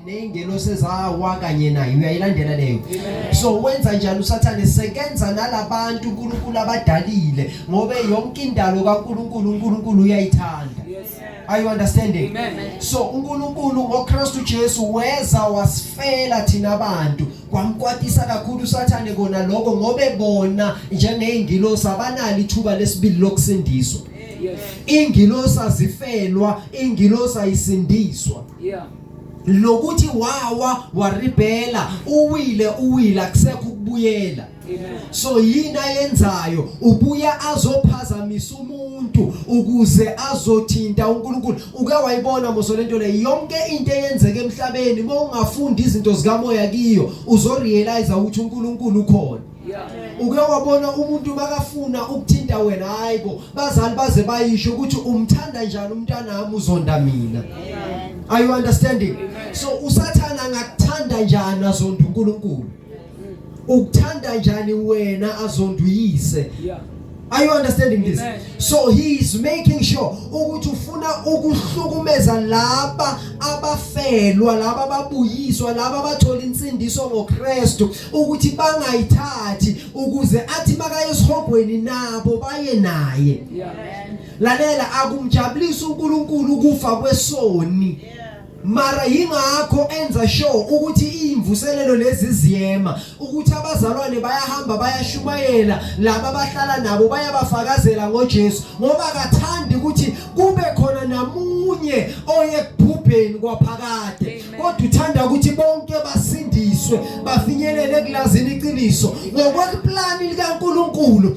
ney'ngelosi ezawa kanye naye uyayilandela leyo so wenza njani usathane sekenza nalabantu unkulunkulu abadalile ngobe yonke indalo kankulunkulu unkulunkulu uyayithanda are you understanding Amen. so unkulunkulu ngokristu jesu weza wasifela thina bantu kwamkwatisa kakhulu usathane kona lokho ngobe bona njengey'ngilosi abanalo ithuba lesibili lokusindiswa Yes. Ingilosi azifelwa, ingilosi ayisindiswa. Yeah. Lokuthi wawa waribhela, uwile uwile akusekho ukubuyela. So yini ayenzayo ubuya azophazamisa umuntu ukuze azothinta uNkulunkulu uke wayibona moso lento le yonke into eyenzeka emhlabeni uma ungafunda izinto zikamoya kiyo uzorealize ukuthi uNkulunkulu ukhona uke wabona umuntu makafuna ukuthinta wena hayi bo bazali baze bayisho ukuthi umthanda njani umntanami uzonda mina are you understanding so usathana angakuthanda njani azonda uNkulunkulu ukuthanda njani wena azonduyise Are you understanding this? So he is making sure ukuthi ufuna ukuhlukumeza laba abafelwa, laba ababuyiswa, laba abathola insindiso ngoKristu ukuthi bangayithathi ukuze athi makayesihogweni nabo baye naye. Lalela akumjabulisa uNkulunkulu kufa kwesoni. Yeah. Mara yingakho enza sure ukuthi imvuselelo lezi ziyema ukuthi abazalwane bayahamba bayashumayela laba abahlala nabo bayabafakazela ngoJesu ngoba akathandi ukuthi kube khona namunye oye kubhubheni kwaphakade kodwa uthanda ukuthi bonke basindiswe bafinyelele kulazini iqiniso ngokweplani likaNkuluNkulu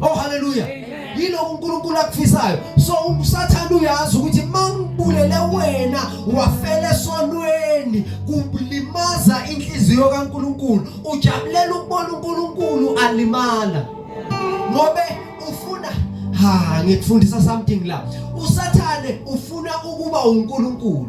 Oh haleluya. Yiloko uNkulunkulu akufisayo. So usathana uyazi ukuthi mangibulele wena wafela esonweni kulimaza inhliziyo kaNkulunkulu. Ujabulela ukubona uNkulunkulu alimala. Ngobe ufuna ha ngikufundisa something la. Usathane ufuna ukuba uNkulunkulu.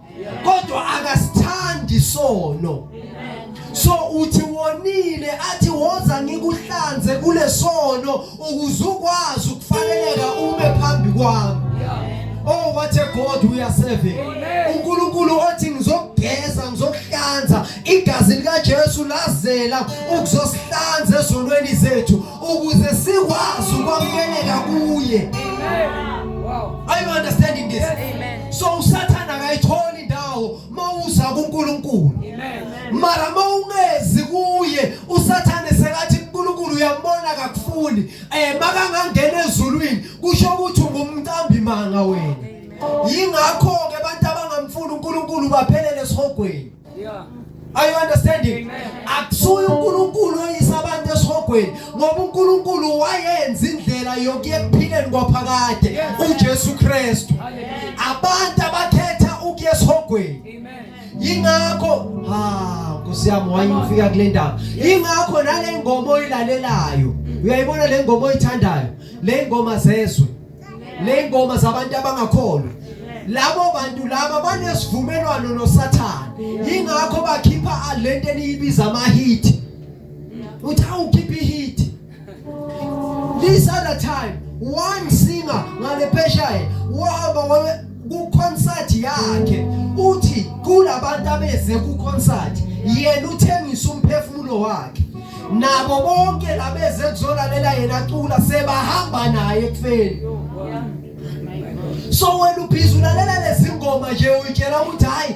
kodwa akasithandi isono so uthi wonile athi woza ngikuhlanze kulesono ukuze ukwazi ukufaneleka ume phambi kwami Oh what a God we are serving. uNkulunkulu othi ngizokugeza ngizokuhlanza igazi lika Jesu lazela ukuzosihlanza ezonweni zethu ukuze sikwazi ukwamukeleka kuye are you understanding this so usathana akayitholi indawo mawuza kuNkulunkulu mara mawungezi kuye usathane sekathi uNkulunkulu uyambona akakufuni eh makangangena ezulwini kusho ukuthi ungumqambi manga wena yingakho ke abantu abangamfuni uNkulunkulu baphelele esihogweni Yeah. Are you understanding? Akusuye uNkulunkulu oyisa abantu esihogweni ngoba uNkulunkulu wayenza indlela yokuya ekuphileni kwaphakade uJesu Kristu. Abantu abakhetha ukuya esihogweni. Yingakho ha Nkosi yami wayifika kule ndawo. Yingakho nale ngoma oyilalelayo. Uyayibona le ngoma oyithandayo. Le ngoma zezwe. nengoma zabantu abangakholwa labo bantu laba banesivumelwano noSathane ingakho bakhipha lento eniyibiza ama hit uthi awukhipha i hit this other time one singer ngale pheshaye wahamba kukhonsathi yakhe uthi kulabantu abeze kukhonsathi yena uthengisa umphefumulo wakhe nabo bonke labeze kuzolalela yena cula sebahamba naye ekufeni so wena ubhizi ulalela lezingoma nje uyitshela ukuthi hayi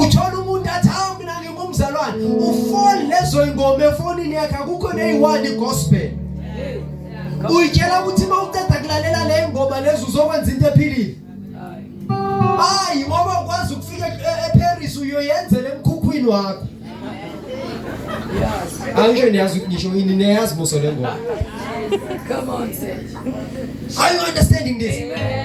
uthola umuntu athi hawu mina ngingumzalwane ufoni lezo ingoma efonini yakhe akukho neyiwani gospel uyitshela ukuthi uma uqeda kulalela le ngoma lezi uzokwenza into ephilile hayi ngoba ukwazi ukufika eparis uyoyenzela emkhukhwini wakho angisho niyazi ukuthi ngisho yini niyazi buso le ngoma Come on, Are you understanding this? Amen.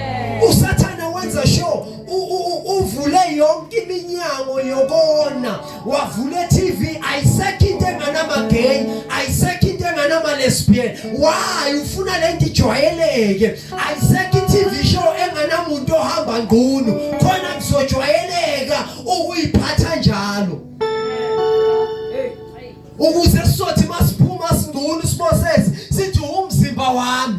uvule yonke iminyango yokona wavule TV ayisekho into enganamagay ayisekho into enganama-lesbian why ufuna le nto ijwayeleke ayisekho i-TV show enganamuntu ohamba ngqunu khona kuzojwayeleka ukuyiphatha njalo ukuze sizothi masiphuma singqunu sibosesi sithi umzimba wami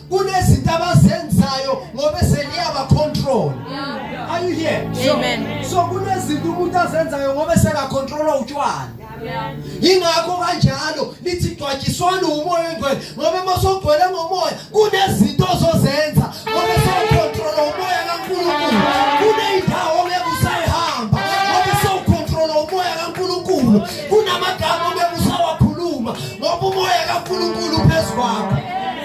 kunezinto abazenzayo ngoba seliyawa control are you here amen so kunezinto umuntu azenzayo ngoba seka controla utshwala yingakho kanjalo lithi gcwatshiswana umoya ongcwele ngoba uma sogcwele ngomoya kunezinto ozozenza ngoba sewukhontrola umoya kaNkulunkulu kuneyindawo ngeke usayihamba ngoba sewukhontrola umoya kaNkulunkulu kunamagama ngeke usawakhuluma ngoba umoya kaNkulunkulu phezu kwakho